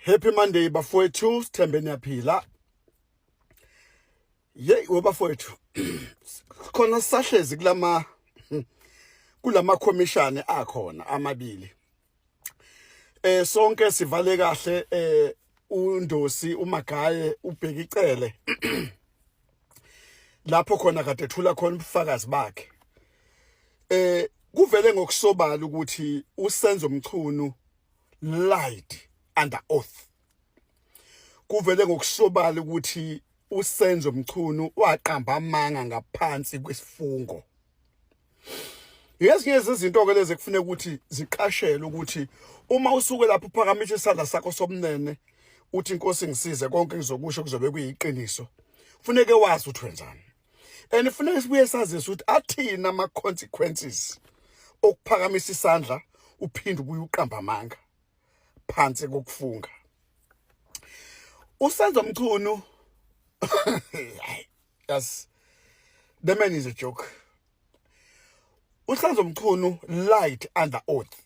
Happy Monday bafowethu sithembe niyaphila Yey webafowethu khona sahlezi kulama kulama commission akhona amabili eh sonke sivale kahle eh undosi umagaye ubheka icele lapho khona kade ethula khona ubufakazi bakhe eh kuvele ngokusobala ukuthi usenzo mchunu lied under oath kuvele ngokusobala ukuthi usenzo mchunu waqamba amanga ngaphansi kwesifungo ngezinye zezinto-ke lezi ekufuneka ukuthi ziqashelwe ukuthi uma usuke lapho uphakamise isandla sakho sobunene uthi inkosi ngisize konke ngizokusho kuzobe kuyiqiniso funeke wazi ukuthi wenzani and funeka sibuye sazise ukuthi athina ama-consequences okuphakamisa isandla uphinde ubuye uqamba amanga phansi kokufunga usenzo mchunu Yes. The man is a joke. Uhlanzo Mchunu light under oath.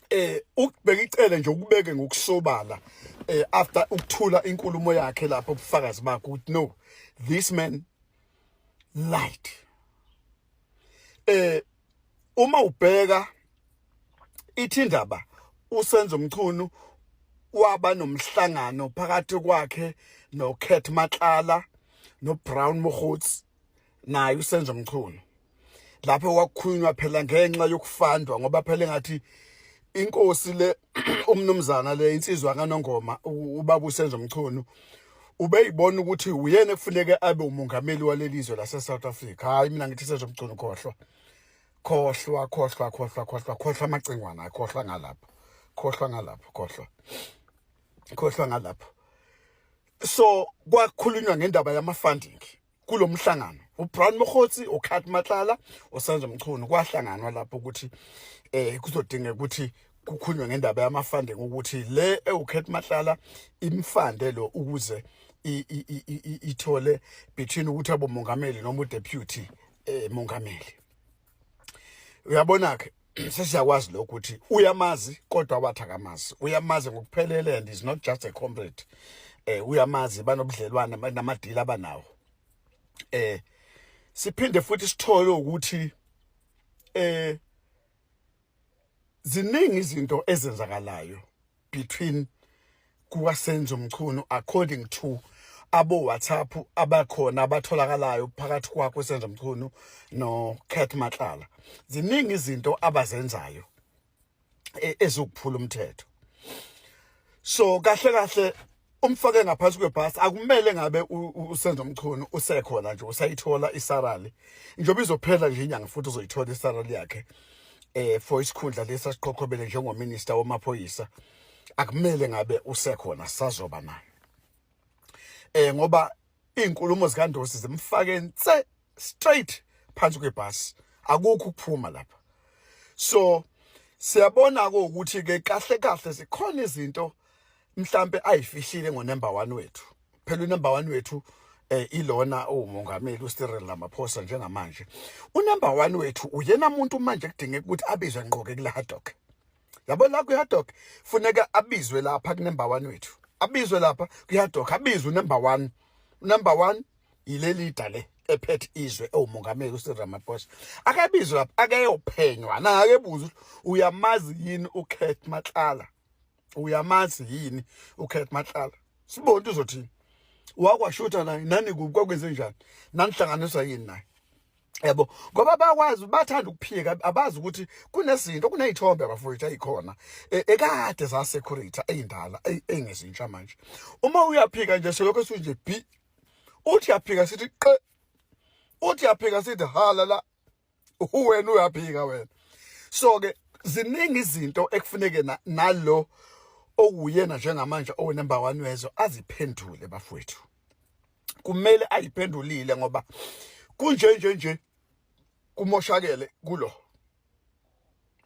Eh ukubheka icele nje ukubeke ngokusobala eh after ukuthula inkulumo yakhe lapho ubufakazi bakhe ukuthi no this man light. Eh uma ubheka ithi indaba usenzo mchunu waba nomhlangano phakathi kwakhe no Cat Matlala no Brown Mohuts naye usenzo mchunu lapho wakhulunywa phela ngenxa yokufandwa ngoba phela ngathi inkosi le umnumzana le insizwa kanongoma ubaba usenzo mchunu ubeyibona ukuthi uyena ekufuneke abe umongameli waleli zwe laseSouth Africa hayi mina ngithi senzo mchunu khohlwa khohlwa khohlwa khohlwa khohlwa khohlwa amacingwana khohlwa ngalapho khohlwa ngalapho khohlwa khohlwa ngalapho so kwakhulunywa ngendaba yama funding kulo mhlangano uBrown Mokgotsi uKhat Matlala uSandra Mchunu kwahlanganwa lapho ukuthi eh kuzodinga ukuthi kukhunywe ngendaba yamafunding ukuthi le ewukhet mahlala imfande lo ukuze ithole between ukuthi abomongameli noma udeputy eh mongameli uyabona ke sesiyakwazi lokho ukuthi uyamazi kodwa wathi akamazi uyamazi ngokuphelele and is not just a comrade eh uyamazi banobudlelwane namadili abanawo eh siphinde futhi sithole ukuthi eh ziningi izinto ezenzakalayo between kukasenzo mchunu according to abo WhatsApp abakhona abatholakalayo phakathi kwakho senzo mchunu no Cat Matlala ziningi izinto abazenzayo e, ezokuphula umthetho so kahle kahle umfake ngaphansi kwebhasi akumele ngabe usenza umchunu usekhona nje usayithola isarali njengoba izophela nje inyanga futhi uzoyithola isarali yakhe eh for isikhundla lesa siqhokhobele njengominister wamaphoyisa akumele ngabe usekhona sazoba naye eh ngoba izinkulumo zikaNdosi zimfake nse straight phansi kwebhasi akukho ukuphuma lapha so siyabona ke ukuthi ke kahle kahle zikhona izinto mhlambe ayifihlile ngo number 1 wethu phela u number 1 wethu eh ilona umongameli uStirel Ramaphosa njengamanje unumber 1 wethu uyena muntu manje kudingeka ukuthi abizwe ngqoke kula harddock yabo la kuyadoc funeka abizwe lapha kunumber 1 wethu abizwe lapha kuyadoc abizwe number 1 number 1 yileli dale ephethe izwe ewumongameli uSir Ramaphosa akabizwe lapha akeyophenywa na akebuza uyamazi yini uKurt Matlala uyamazi yini uKurt Matlala sibonke uzothini wakwashutha naye nani kuphi kwakwenze njani nanihlanganiswa yini naye yabo ngoba bakwazi bathanda ukuphika abazi ukuthi kunezinto kunezithombe abafowethu ayikhona e, ekade za security eyindala engezintsha manje uma uyaphika nje selokho sinje bi uthi yaphika sithi qe uthi yaphika sithi hala la uwena uyaphika wena so ke ziningi izinto ekufuneke nalo okuyena njengamanje owenumber 1 wezwe aziphendule bafowethu kumele ayiphendulile ngoba kunje nje nje kumoshakele kulo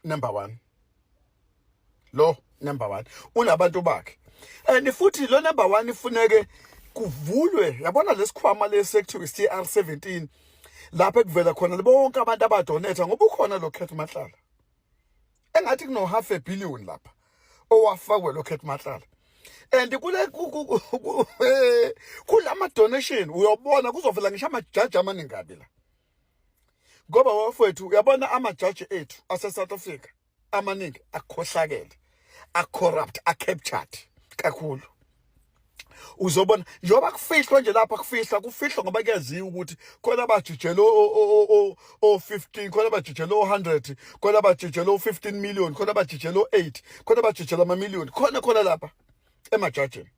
number 1 lo number 1 unabantu bakhe and futhi lo number 1 ifuneke kuvulwe yabona lesikhwama lesekuthiwa CR 17 lapho ekuvela khona bonke abantu abadonate ngoba ukhona lo Khethi Mahlala engathi kuno half a billion lapha owafakwe lo Kate Matlala and kule kulama donation uyobona kuzovela ngisho amajaji amaningabi la ngoba wafethu uyabona amajaji ethu ase South Africa amaningi akhohlakele a corrupt a captured kakhulu uzobona njengoba kufihlwa nje lapha kufihla kufihlwa ngoba kuyaziwa ukuthi khona abajijele o-15 khona abajijele o-100 khona abajijele o-15 million khona abajijele o-8 khona abajijele amamiliyoni khona khona lapha emajajini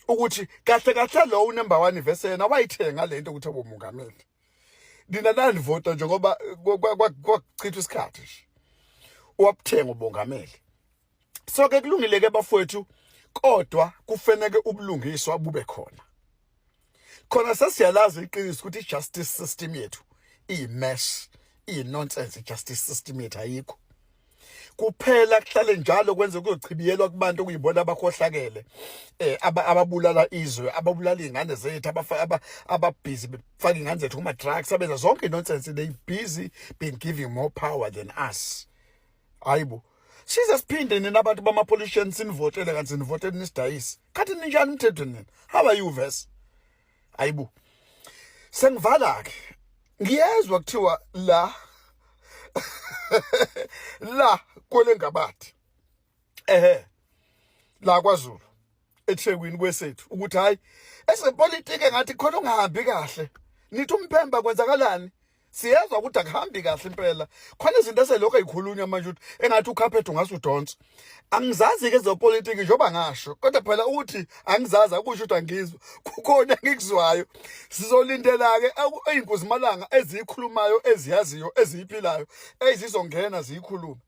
ukuthi kahle kahle lo unumber 1 vese yena wayithenga lento ukuthi abomongameli nina nanivota njengoba kwakuchitha isikhathi nje wabuthenga ubongameli so ke kulungile ke bafowethu kodwa kufanele ubulungiswa bube khona khona sesiyalazi iqiniso ukuthi i-justice system yethu iyi-mess iyi-nonsense i-justice system yethu ayikho kuphela kuhlale njalo kwenze kuzochibiyelwa kubantu okuyibona abakhohlakele eh ababulala izwe ababulala izingane zethu abafaka ababhizi befaka ingane zethu kuma drugs abenza zonke nonsense they busy being giving more power than us hayibo size siphinde nina abantu bama-politician sinivotele kanti sinivotele nisidayise khathi ninjani umthetho nina how are you ves hayibo sengivala-ke ngiyezwa kuthiwa la la kwele ngabathi ehe la kwazulu eThekwini kwesethu ukuthi hayi ezepolitike ngathi khona ungahambi kahle nithi umphemba kwenzakalani siyezwa ukuthi akuhambi kahle impela khona izinto eselokho ezikhulunywa manje ukuthi engathi ukhaphethe ungase udonse angizazi ke zepolitiki njengoba ngasho kodwa phela ukuthi angizazi akusho ukuthi angizwa kukhona engikuzwayo sizolindela ke izinkuzimalanga ezikhulumayo eziyaziyo eziphilayo ezizongena ziyikhuluma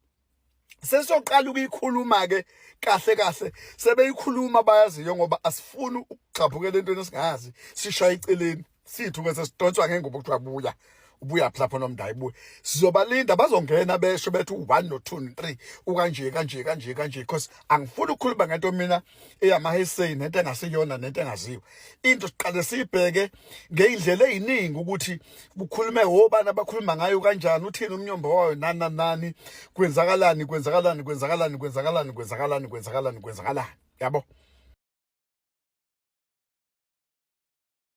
sesoqala ukuyikhuluma ke kahle kahle sebeyikhuluma bayaziyo ngoba asifuni ukugxabhukela entweni esingazi sishaya iceleni sithu ke sesidonswa ngengubo kuthiwa buya ubuya lapho nomndayi buya sizobalinda bazongena besho bethi u1 no2 no3 ukanje kanje kanje kanje because angifuni ukukhuluma ngento mina eyamaheseyi nento engasiyona nento engaziwa into siqale siyibheke ngeyindlela eziningi ukuthi kukhulume obani abakhuluma ngayo kanjani uthini umnyombo wayo nana nani kwenzakalani kwenzakalani kwenzakalani kwenzakalani kwenzakalani kwenzakalani kwenzakalani yabo